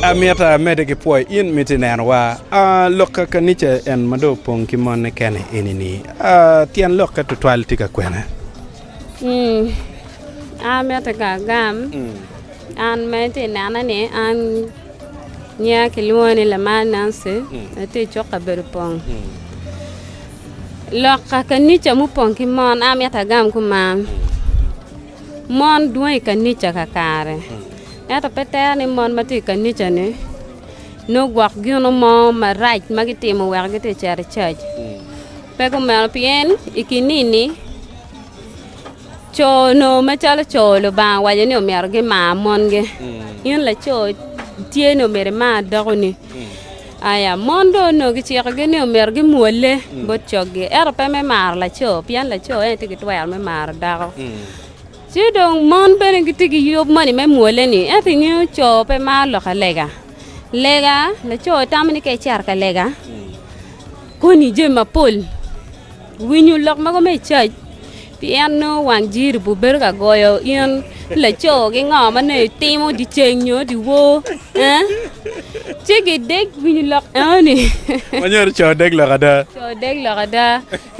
Amyeta amede ki pwoyo in mito i neno wa. Lok ka kanica en ma dong opong ki mone kene eni ni. Tyen lokke tutwal tye ka kwene? Amyete ka agam an ma iti i nena ni an nyiya ki lwongo ni Lamal Nancy atye i cuk kabedo pong. Lok ka kanica mupong ki mon amito agam kuman. Mon dwong i kanica kakare, ento pe tere ni mon ma tye i kanica-ni nongo gwok gino mo marac ma gitimo wek gitye ka cito i cac. Pe kumeno pien i kinini co onongo macalo co Lubanga owaco ni myero gimar mongi. In laco tye ni omyero imar dokoni. Aya, Mon dong onongo kicikogi ni omyero gimwolle bot coggi, ento pe me maro laco, pien laco en aye tye ki twero me maro dako. Ci dong mon bene gitye ki yub moni me mwolle-ni. Ento ingeyo co pe maro loko lega. Lega, laco tamo ni ka ecito ka lega, koni jami mapol, winyo lok mogo me cac. Pien nongo wang jiribu bedo ka goyo in laco ki ngo ma nongo itimo dyeceng nyo dyewor, ci gidek winyo lok enoni. Ma nyero co odek lok ada. Co odek lok ada.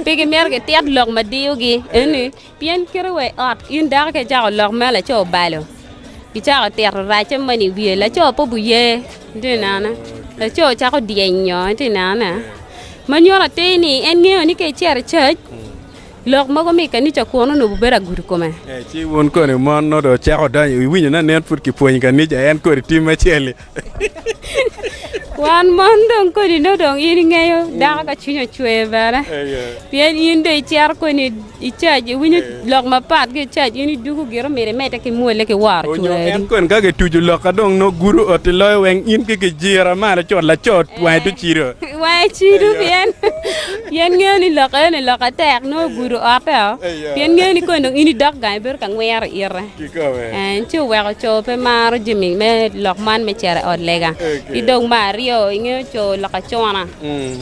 Pe gimito gitit lok ma diyogi enoni, pien kite wa i ot in dako ka icako lok ma laco obalo, icako tito racce moni i wiye, laco pe obiye, itye ka nena? Laco cako dyenyo, itye ka nena? Ma nyuto atir ni en ngeyo ni ka icito i cac. Lok mogo mi kanica kwon onongo obedo agudo i kome. Ci wun koni mon nongo dong wucako donyo, wuwinyo ni nen pud kipwonyo kanica en kodi tim acel-li? Wan mon dong kodi nongo dong in ingeyo dako ka cwinye ocwer bene, pien in dong icito koni i cac, iwinyo lok mapat ki i cac, in idugo gire myero imedde ki mwole ki woro cula Onyo en adi. koni ka kituco lok ka dong nongo gudo oti loyo weng in ki kijira malo cot laco wange tye cido. Wange cido pien Pien ngeyo ni lok eno-ni lok atek, nongo ogudo otteo, pien ngeyo ni kong dong in idok gang ibedo ka ngwiro ite. En ci oweko co pe maro jami me lok man me cito i ot lega. Ki dong me aryo, ingeyo co lok acuna.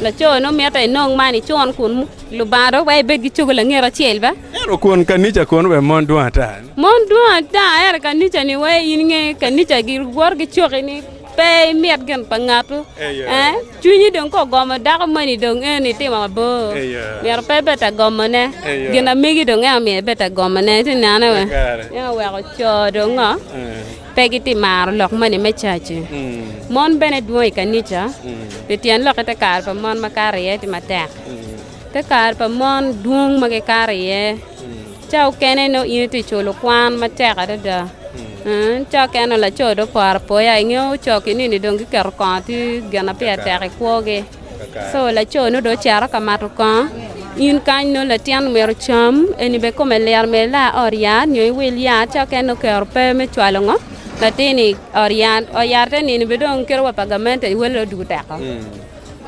Laco nongo mitte inong man icun kunnu, Lubanga dong weko ibed ki cogo langet acel be. Ento kun kanica kono bene mon dwong ata-ni? Mon dwong ata, ento kanica-ni weko in inge kanica giwoto ki coki-ni. Pe imit gin pa ngatu. Eh, cwinyi dong ka ogomo dako moni dong en itimo mabor. Myero pe ibed ta gomone. Gin amegi dong eno myero ibed ta gomone. Iti nene we. En oweko co dong ngo. Pe giti maro lok moni me caci. Mon bene dwong i kanica. Pi tyen lokke te kare pa mon makato iye ti matek. Te kare pa mon dwong ma gikato iye, ca okene nongo in itye ka culo kwan matek adada. Ca okene nongo laco dong oporo apoya, ingeyo coc-ki nini dong giketo kongo tye gin ma peya tek i kwogi. Co laco-ni dong ocito ka mato kongo, in kany nongo latin omyero ocam, eni bene kome lit omyero ila ot yat nyo iwil yat. Ca okene nongo oketo pe me cwalo ngo latin-ni i ot yat, ot yat te nino bene dong kite wa pa gamente iwele dong odwogo teko.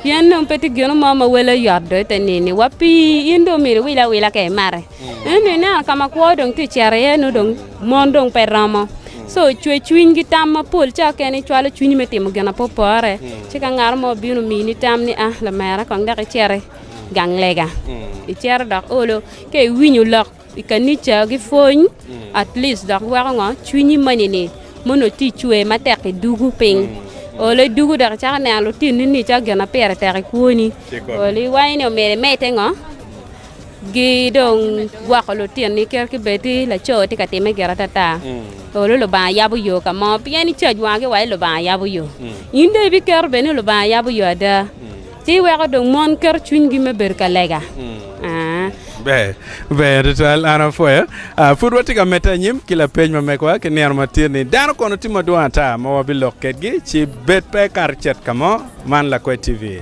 Pien dong pe tye gin mo ma wele yot do i te nini, wa pi in dong omyero iwil awila ka imate. Ento ineno ka ma kwo dong tye ka cito iye, nongo dong mon dong pe romo. Co ocwe cwinygi tam mapol ca kene icwalo cwinyi me timo gin ma pe opore. Ci ka ngat mo obino omini tam ni aa lamera kong dok icit i gang lega, icito dok olo, ka iwinyo lok I kanica gipwony at least dok weko ngo cwinyi moni ni mono ti cwer matek i dugu piny olo i dugu dok icako neno lutinni ni calo gin ma pire tek i kwoni olo iwanyi ni omyero imedde ngo gi dong gwoko lutinni kit ki bed ti laco ti ka time gire atata olo Lubanga yabo yo ka mo pien icac wangi wa ni Lubanga yabo yo in dong ibiketo bene ni Lubanga yabo yo ada Ci weko dong mon keto cwinygi me bedo ka lega. Ber, ber tutwal. An apwoyo. Ah, pud watye ka medde anyim ki lapeny ma megwa ki nino matir ni, Dano kono tye madwong ata ma wabilok kedgi? Ci bed pe ikato icet ka mo. Man Lakwe TV.